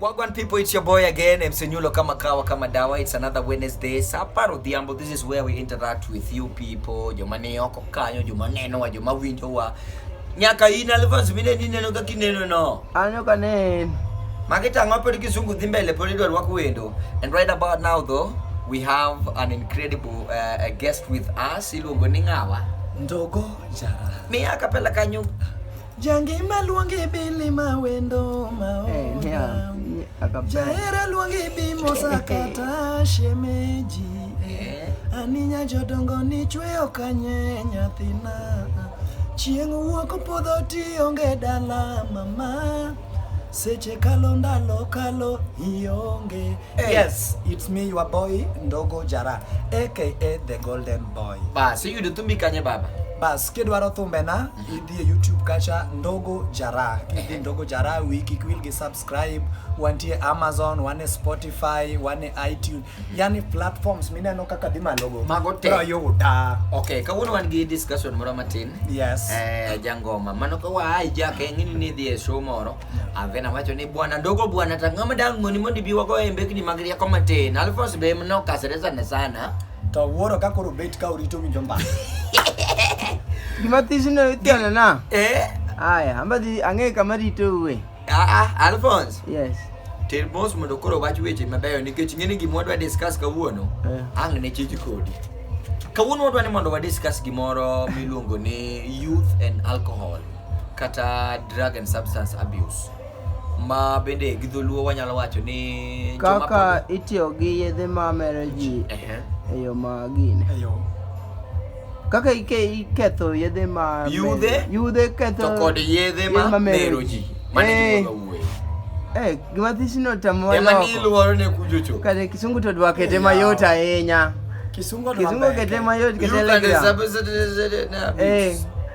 Wagwan people, it's your boy again, MC Nyulo kama kawa kama dawa. It's another Wednesday. Sapa Rodhiambo, this is where we interact with you people. Joma ne oko kanyo, joma neno wa, joma winjo wa. Nyaka in alvas mine ni neno kaki neno no. Anyo ka nen. Makita ngope di kisungu dhimbe le poli dwa wako wendo. And right about now though, we have an incredible uh, guest with us. Iluongo ni ngawa. Ndogo jara. Miya kapela kanyo. Jangima luongi bili ma wendo ma Eh, oda. yeah, yeah, akapenda. Jahera luongi bi mosa kata shemeji. Aninya jodongo ni chweyo kanye nyathina. Chieng' wuok podho tionge dala mama. Seche kalo ndalo kalo ionge. Eh. Yes, it's me your boy Ndogo Jara aka the Golden Boy. Basi iyudo thumbi kanye baba? Bas kidwaro thumbena idhie youtube kacha ndogo jara kidhi ndogo jara wiki kwilgi subscribe wantie amazon wane spotify wane itunes yani platforms mineno kaka dhi malogo Mago te. bro yuda okay kawuono wan gi discussion moro matin yes Eh, jangoma mano ka waa ijake ng'ini ni dhi e show moro avena wacho ni bwana ndogo bwana tang'ama dang'oni mondo ibi wago e mbekni mag rieko matin alfons be mnokasre sana sana To wuoro ka koro bet ka orito winjo mbaka. Gima thich no itiano na. Eh? Aya, amba dhi ang'e kama rito uwe. Ah, ah, Alphonse. Yes. Ter mos mondo koro wach weche mabeyo nikech ng'eni gima wadwa discuss kawuono. Eh. Ang' ne chich kodi. Kawuono wadwa ni mondo wa discuss gimoro miluongo ni youth and alcohol kata drug and substance abuse. ma bende gi dholuo wanyalo wacho ni kaka itiyo gi yedhe ma mero ji e yo ma gine kaka iketho yedhe ma yudhe yudhe ketho to kod yedhe ma mero ji mane eh. eh gima thisi no tamo ema ni luoro ne kujocho kare kisungu to dwa kete mayot ahinya kisungu kete mayot kete legra eh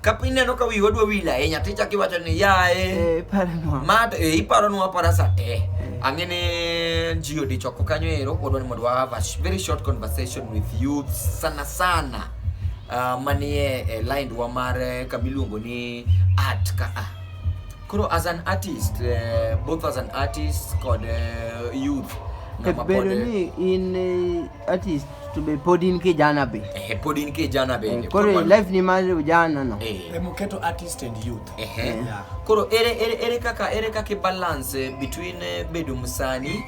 Ka piny neno ka wiwa dwa wil ahinya to ichako iwacho ni yaye Eh, iparonwa. ma to eh, iparonwa apara sa te ang'e ni ji odichoko kanyo ero wadwa ni mondo wa have a sh- very short conversation with youth sana sana uh, manie eh, lindwa mar eh, kama iluongo ni art ka a koro as an artist eh, both as an artist kod eh, youth Ket ng'ama pod, bedo eh, ni in eh, That is to be pod in kijana be. Eh, pod in kijana be. Eh, koro life ni mar ujana no. Eh. eh muketo artist and youth. Eh. eh. Yeah. Koro ere ere ere kaka ere kaka balance eh, between bedo musani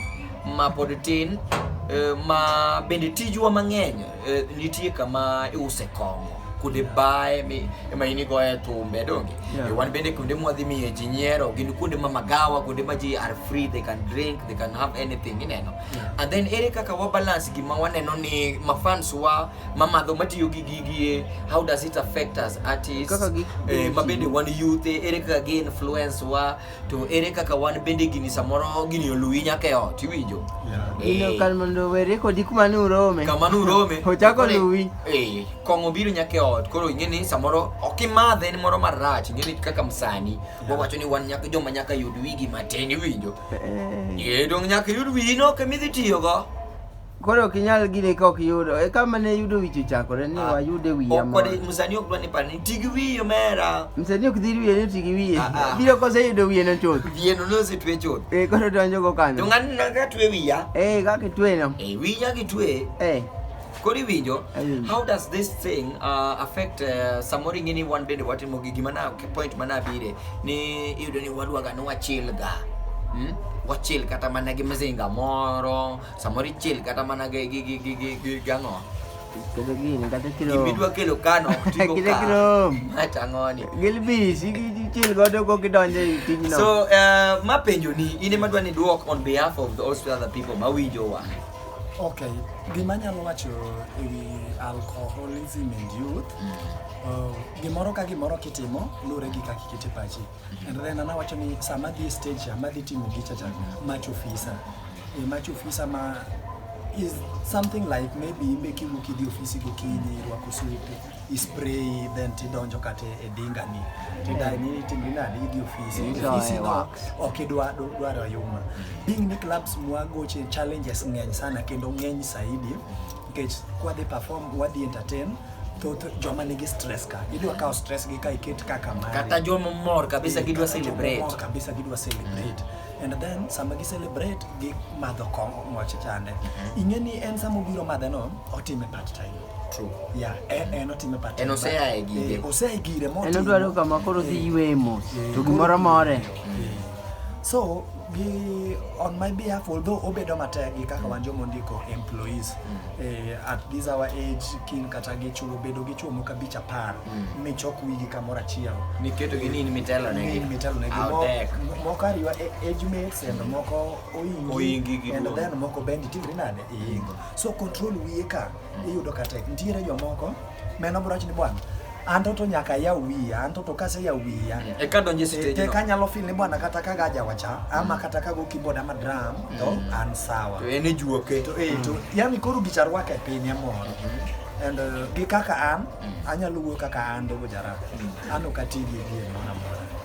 ma pod tin ma bende tijwa mang'eny nitie kama iuse kong'o kude bae mi ema in igoye thumbe donge yeah. e wan bende kuonde mwadhi miye ji nyiero gin kuonde ma magawa kuonde ma ji are free they can drink they can have anything ineno yeah. and then ere kaka wa balance gima waneno ni mafans wa mamadho matiyo gi gigie how does it affect us artists eh, mabende wan youth eh, ere kaka gi influence wa to ere kaka wan bende gini samoro gini oluwi nyaka e ot iwinjo ino eh. kar mondo were kodi kuma ne urome kama ne urome ochako luwi eh, kong'o biro nyaka e ot koro ing'e ni samoro ok imadhe en moro marach ing'e ni kaka msani wawacho ni wan nyaka joma nyaka yud wigi matin iwinjo Ee, dong' nyaka iyud wino kama idhi tiyogo. Koro ok inyal gine ka ok yudo. E kama ne yudo wich ochakore ni ah, wayude wiya moro. Okwadi msanii ok dwa ni par ni ti gi wiye omera. Msanii ok dhir wiye ni ti gi wiye. Ah, ah. Biro kose yudo wiye no chuth. Wiye no nose twe chuth. Eh koro donjo go kanyo. To ng'ani na ka twe wiya. Eh kaka itwe no. Eh wiya kitwe. Eh. koro iwinjo mm. how does this thing uh, affect uh, samoro ing'e ni wan bende watimo gi gima na point mana abire ni iyudo ni wadwaga ni wachil ga hmm? wachil kata mana gi mzinga moro samoro ichil kata mana gi gi gi gi gi gang'o gimidwa kelo kano matang'oni gilbis ichil godo go gidonje e tijno so uh, mapenjo ni in ema dwa ni dwok on behalf of the all other people mawinjowa Ok, gima anyalo wacho e wi alcoholism and youth, uh, gimoro ka gimoro kitimo luwore gi kaka ikete pachi. And then an awacho ni sama dhi e stage cha, madhi timo gicha cha, mach ofisa. E mach ofisa ma is something like maybe imbe kiwuok idhi ofisi gokinyi, irwako suti. ispray then tidonjo kata e dinga ni tidai ni itimri nade idhi ofisi Igoye ofisi no wax. ok idwa dwa- dwaro yuma being ni clubs mwagoche challenges ng'eny sana kendo ng'eny saidi nikech kwadhi perform wadhi entertain thoth joma nigi stress ka idwa kawo stress gi ka iket kaka mari kata joma mor kabisa gidwa Kata jomamor celebrate kabisa gidwa celebrate and then sama gi celebrate gi madho kong'o moche chande ing'e ni en sama obiro madhe no otime part time True. Yeah, eh, eh, not in the pattern. En osea e gire. Eh, osea e gire mo. En odwaro kama koro dhi ywe mo. To gimoro more. So, gi on my behalf although obedo matek gi kaka wan joma ondiko employees mm. eh, at this our age kin kata gi chuo bedo gi chuo moko abich apar mm. michok wigi kamoro achiel niketo gi nini mitelo ne gi mitelo ne gi moko ariwa e, age mates and moko oingi and then moko bendi tingri nade iingo mm. so control wiye ka iyudo ka tek nitiere jomoko meno bro ni bwana anto to nyaka ya wiya anto to kase ya wiya e ka donje stage te ka nyalo feel ni bwana kata ka gaja wacha ama mm. kata ka go keyboard ama drum to mm. an sawa to ene juoke to e to mm. yani koro gicharwa ka piny amoro mm-hmm. and uh, gi kaka an anyalo wuoyo kaka an dogo jara an ok ati gi gi moro amora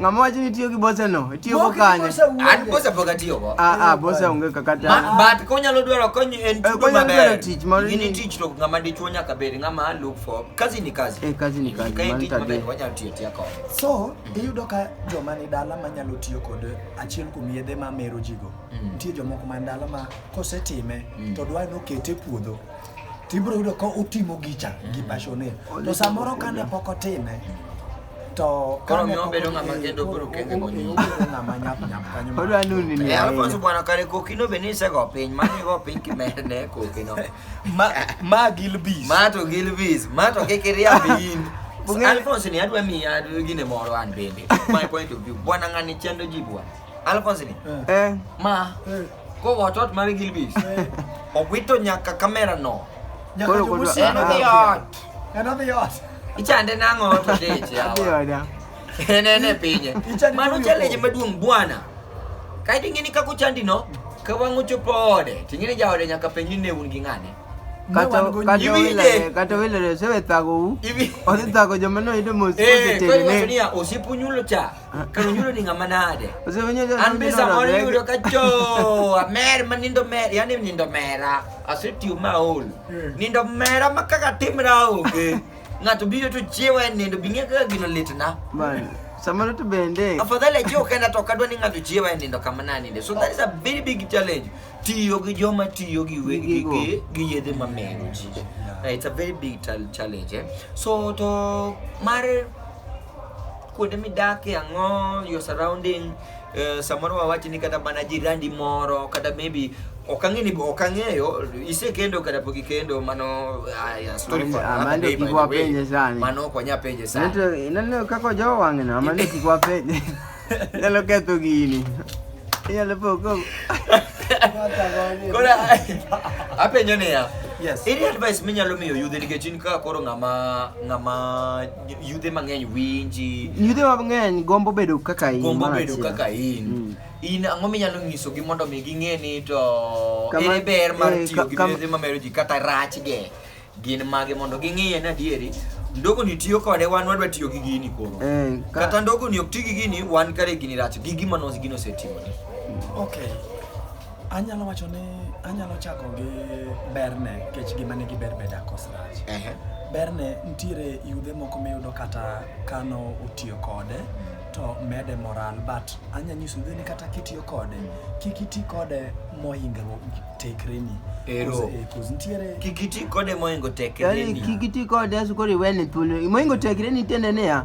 Ng'ama wacho ni tiyo gi bosa no? Tiyo go kanye? An bosa pok atiyo go. Ah ah, bosa onge kaka ta. But konyalo dwaro kony en eh, tudo maber. Konyalo tich mar ni tich to ng'ama dichuo nyaka bed ng'ama look for. Kazi ni kazi. Eh, kazi ni kazi. Kain tich maber wanyalo tiyo tiya ko. So, iyudo ka joma ni dala manyalo tiyo kod achiel kuom yedhe ma mero jigo. Mm. Nitie jomoko man dala ma kosetime mm. to dwa nokete puodho tibro yudo ka otimo gicha gi mm. passion to samoro kane pok otime To Koro kane miyo pok bedo ng'ama okeyo, kendo koro biro kende okeyo, konyuol. obedo ng'ama nyap nyap kanyo ma- Odwa nuni ni Eh, Alfonso bwana kare kokino be ni isego piny, mano igo piny kimedne kokino. Ma- ma gilbis Ma to Gilbis, ma to kik iriamb in. Bung'e- Alfonso ni adwa miyi ad- gine moro an bende. My point of view. Bwana ng'ani chendo ji bwana. Alphonsine. Eh. Ma. Eh. Ko watot mari gilbis. Eh. Owito nyaka kamera no. Nyaka Koro kudu- jomusi. En odhi ot. En odhi ot. Ichande nang'o to dich yawa. Adhi oda. En en e pinye. Ichande Mano nang'o? challenge maduong' bwana. Kae to ing'eni kaka ochandi no, ka wang' ochopo ode, to ing'eni jaode nyaka penji ni ne un gi ng'ane. Ne Kata wan go kata nyiri. Iwinje. wilere, kata wilere osewethago u. Iwi- Odhi thago joma noyudo mos Eh, koro iwacho osetene. niya, osiepu nyulo cha. Kanyulo ni ngama nade? An be samoro yudo ka jo amer ma nindo mer, yani nindo mera. Asetiyo ma ol. Hmm. Nindo mera ma kaka timra onge. Ng'ato biro to chiewa e nindo bing'e kaka gino litna. Bana. Samoro to bende. Afadhali ajiwo kenda to kadwa ni ng'ato chiewa e nindo kama naninde. So that is a very big challenge. Tiyo gi joma tiyo gi wegi gi gi yedhe ma mero ji. It's a very big challenge. Eh? So to mar kuonde midake ang'o your surrounding uh, samoro wawachi ni kata mana jirandi moro kata maybe ok ang'e ni ok ang'eyo isekendo kata pok ikendo mano aya story for another Amanda day, by kik the way. wapenje sani. mano ok wanya penje sana Nato inaneno kaka ojowo wang'no amane kik wapenje. Nyalo ketho gini. Inyalo poko. koro apenjo niya Yes. any advice minyalo miyo yudhe nikech in ka koro ng'ama ng'ama Yudhe mang'eny winji. Yudhe mang'eny gombo bedo kaka in. Gombo bedo kaka in. Mm. In ang'o minyalo nyisogi mondo mi ging'e ni to ere ber mar eh, tiyo gi yedhe mamero ji kata rachge gin mage mondo ging'iye ni adieri ndogo ni tiyo kode wan wadwa tiyo gi gini koro eh, ka... kata ndogo ni ok ti gi gini wan kare gini rach gi gima nos gino osetimoni okay Anyalo wacho ni anyalo chako gi berne kech gima nigi ber beda kos rach. Ehe. Berne nitiere yudhe moko miyudo kata kano otiyo kode to mede moral but anya nyiso yudhe ni kata kitiyo kode kik iti kode mohingo tekreni. Ero. Kos- eh, kos nitiere Kik iti kode mohingo tekreni. Yaani kikiti kode asu kori wene thuolo. Moingo tekre ni tende niya.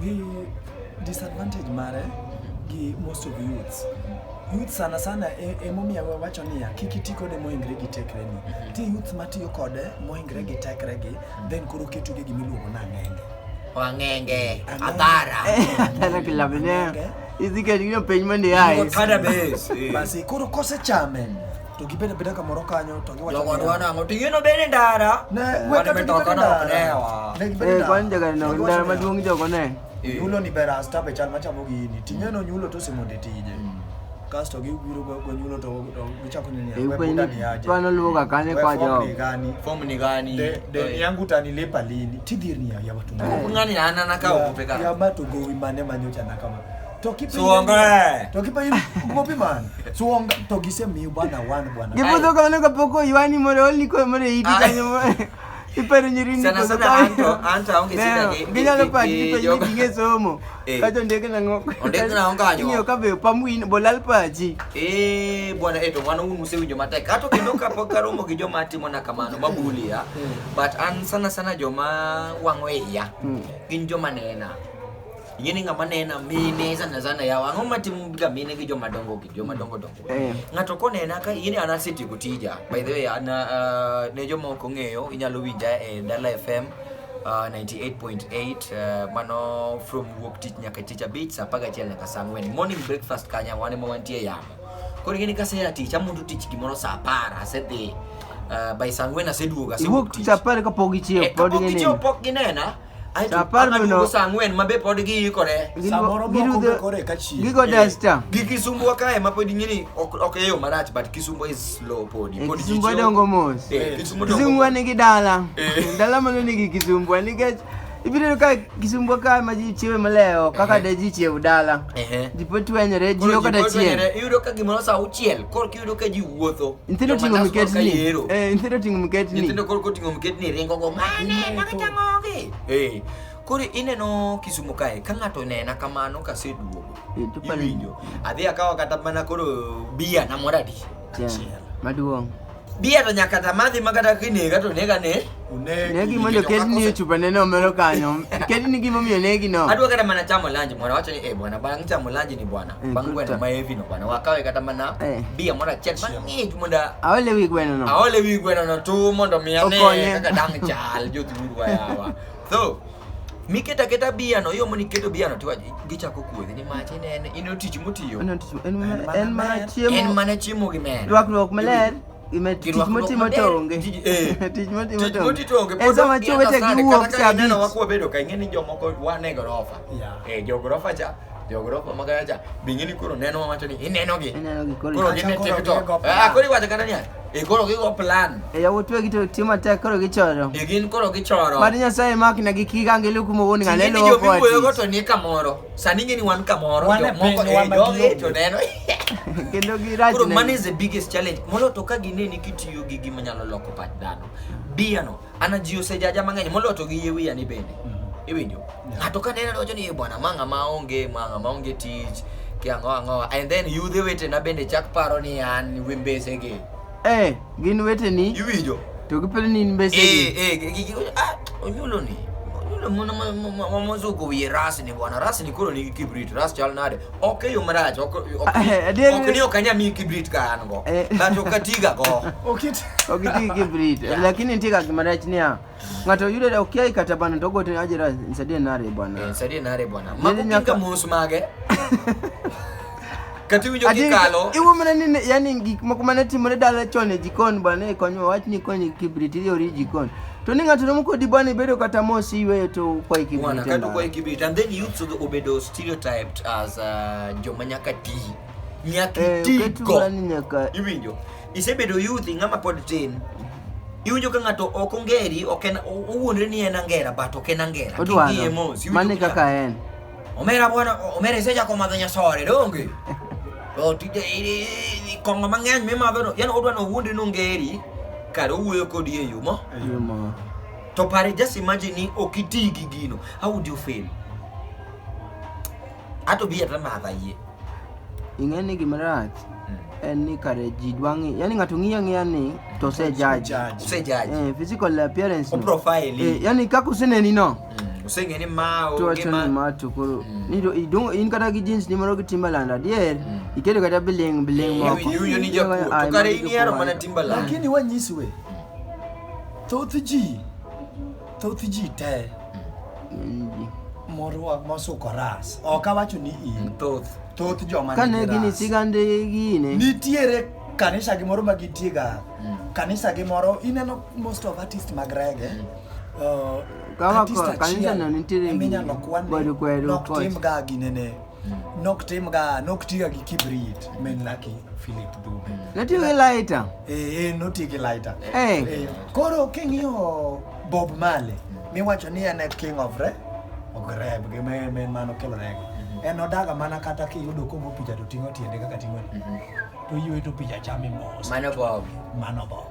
The disadvantage mare gi most of youths youth sana sana e- emomiyo wawacho niya kik iti kode moingre gi tekreni ti youth matiyo kode moingre gi tekregi then koro ketuge gimiluongo ni ang'enge Wangenge, Adhara. Tena kila mwenyewe. Hizi kati hiyo penye mwenye hai. Kada base. eh. basi koro kosechame to gibende beda kamoro kanyo to giwacho Jogo niya, dwa nang'o to ing'eno bene ndara Ne, Wan weka to mitoka gibeda nok ndara. newa Ne gibeda Eh, ndara. kwan jagari na To giwacho ndara niya, maduong' jogo ne. Eh. nyulo ni ber asta be chal machamo gini ting'eno nyulo to osemonde tije kasto gibiro go go nyulo to to gichako ni niya, Eh, "We kwenye buda ni aje kwan oluwoga kanye We kwa form jogo." ni gani fomu ni gani de de yangu utanilipa lini tidhir niya ya watu Eh. ng'ani anana ka ogope ya ka matu gowi mane manyocha nakama Suongoe. Tokipa yim kumopi man. Suong to gise miu bana wan bwana. Gibudo ka mano kapoko yuani more oli ko more iti kanyo more. Ipero nyirini sana sana anto anto aonge sida gi. Ginyalo pa gi to yim ginge somo. Eh. Kato ndege na ngok. Ndege na onga nyo. Nyo kabe pamuin bolal paji. Eh bwana eto wana unu muse winjo matek. Kato kendo kapok karomo gi joma timo na kamano mabuli ya. Hmm. But an sana sana joma wango iya. Hmm. Gin joma nena. Ing'e ni ng'ama nena mine sana sana yawa. Ang'o matim ga mine gi joma dongo gi joma dongo dongo. Eh. Ng'ato konena ka ing'e ni an asetieko tija. By the way, an ah, ne joma ok ong'eyo inyalo winja e Dala FM ah, 98.8 eh, mano from wuok tich nyaka tich abich saa apar gachiel nyaka saa ang'wen. Morning breakfast kanya wan ema wantie yamo. Koro ing'e ni kasea tich amundo tich gimoro saa apar asedhi. ah, by saa ang'wen aseduogo asewuok Iwuok tich. tich apar kapok ichiew Eh, pod kapok gichiew gineno. pok ginena Apar no. Adugo saa ang'wen ma be pod giikore. Samoro moko be kore ka chieng'. Gigo dasta. Gi Kisumu wa kae ma pod ing'eni ok ok eyo marach but Kisumu is slow pod. Pod Kisumu ji- dongo mos. Eh, Kisumu dongo Kisumu mos. nigi dala. Eh. Dala mano nigi Kisumu nikech ibiro ka Kisumu ka ma ji chiewe maleo kaka de ji chiew dala. Ehe. Ji pod twenyore ji Koro ok ji pod kata chieng'. wenyore, Iyudo ka gimoro saa auchiel koro Yudo ka ji wuotho. Nyithindo ting'o Jomanas koro ka miketni. yero. Eh, nyithindo ting'o miketni. Nyithindo koro koting'o mketni ringo go mane makata ng'ogi. Eh. Koro ineno Kisumo kae ka ng'ato nena kamano kaseduogo. Eh, to pale- Iwinjo. Adhi akawa kata mana koro bia na mora di. Yeah, Maduong'. Bia to nyaka tamadhi ma kata kinega to nega ne. Negi mondo ketni e chupa nene omero kanyo. Ketni gimomiyo negi no. Adwa kata mana chamo lanji mwana wacho ni eh bwana bang' chamo lanji ni bwana. bangwena eh, maye vino bana wakawe kata mana eh. bia mora chel mang'ich mondo aole wi gweno no aole wi gweno no tu mondo mi ane kaka dang' chal jo dhuru ayawa so miketa keta bia no yo moni keto bia no tiwa gichako kuodhi ni mach en en in otich motiyo en mana chiemo en mana chiemo gi men rwakruok maler tich motimo to onge eh. tich motimo to onge en sama chowete giwuok kabich wabedo ka ing'e ni jomoko wane gorofa e eh, jo gorofa cha jogorofa ma gacha bingi ni koro neno wacho ni ineno gi ineno gi koro koro gine tiktok ah koro iwacho kata niya e koro gigo plan e yawuot wegi to tiyo matek koro gichoro e gin koro gichoro mad nyasaye mak ne gi kiga ngi luku mo woni ngane lo ko ati yo to ni kamoro sani ngeni wan kamoro jo moko e jogi to neno kendo gi raj koro man is the biggest challenge molo to ka gine ni kitiyo gi gima nyalo loko pach dhano biyano Ana ji osejaja mang'eny moloyo to gi yie wiya ni bende. Mhm. Iwinjo? Yeah. Ng'ato ka neno wacho ni "Eh, bwana ma ng'ama onge, ma ng'ama onge tich, ki ang'o ang'o. And then yudhe wetena bende chak paro ni an wi mbesege. Eh, gin weteni Iwinjo? to giparo ni in mbese gi. Eh, eh, gi- gi- gi- ah, onyulo ni. Onyulo mwana ma- ma- ma- ma- mozuko wiye ras ni bwana. Ras ni koro nigi kibrit, ras chal nade. Ok e yo marach, ok- ok- Eh, adier- ok ni ok anyal miyi kibrit ka an go. Eh. But ok atiga go. Okit Ok ti gi kibrit. Lakini nitie kaka gima rach niya. Ng'ato yudore okiai kata bana to ogote ni ajira nisaidie nare Eh, bwana. nisaidie nare bwana. Nini Mago nyaka- kinga mos mage. Kati winjo Ati kikalo. iwo mana ni ne- yani gik moko mane timore dala chon e jikon bwana e konyo wach ni konyo kibrit ili ori jikon. To ni ng'ato nomo kodi bwana ibedo kata mos iweyo to kwa kibrit. Bwana e kati ndara. kwa kibrit and then youth obedo stereotyped as uh, joma nyaka tii. nyaka Eh, iti oket go ng'ani nyaka iwinjo isebedo yuthi ng'ama pod tin iwinjo ka ng'ato ok ongeri ok en o- owuondre ni en angera but ok en angera King'iye mos, odwaro iwinjo mane ka- kaka en omera bwana omera isechako madho nyasore donge to tije i- i- i- kong'o mang'eny mimadho no yani odwa ni owuondre ni ongeri kare owuoyo kodi e yo mo Yumo. to pare just imagine ni ok iti gi gino how would you feel Ato bi ata madha yie. Ing'e ni gima rach Mm. en ni kare ji dwa ng'i, yani ng'ato ng'iyo ang'iya ni to osejaji. Judge. Use judge. Eh, physical appearance. O no. profile. Eh, Eh, yani kaka useneni no. mm. Use ng'e ni ma o tuwacho ni gima. ma to koro Mm. ni to idong in kata gi jeans ni moro gi Timberland adier Mm. iketo kata biling biling Iwi- moko iwinjo ni jakuo. Ai, To mano kare in ihero jakuo mana ahinya. Timberland. Lakini wanyiswe. Thoth ji thoth ji te morwa mosuko ras ok awacho ni in thoth thoth joma kane nigi gini ras. sigande gine nitiere kanisa gi moro ma gitiega kanisa gi moro ineno most of artist mag rege uh, Kama artist kwa- kanisa achiel no nitiere eminyalo gini, kwan ni kweru kweru nok coach. timga ginene Nok tim ga, nok tiga gi kibrit, men laki Philip Dube. Natiyo gi lighter. Eh, eh, noti gi lighter. Eh. Eh, koro king'iyo Bob Marley, miwacho ni en e king of re, of rap, gi me- men mano kelo rego. En odaga mana kata kiyudo komo picha to ting'o tiende kaka ting'o ni. To ywe to picha chame mos. Mano Bob. Mano Bob.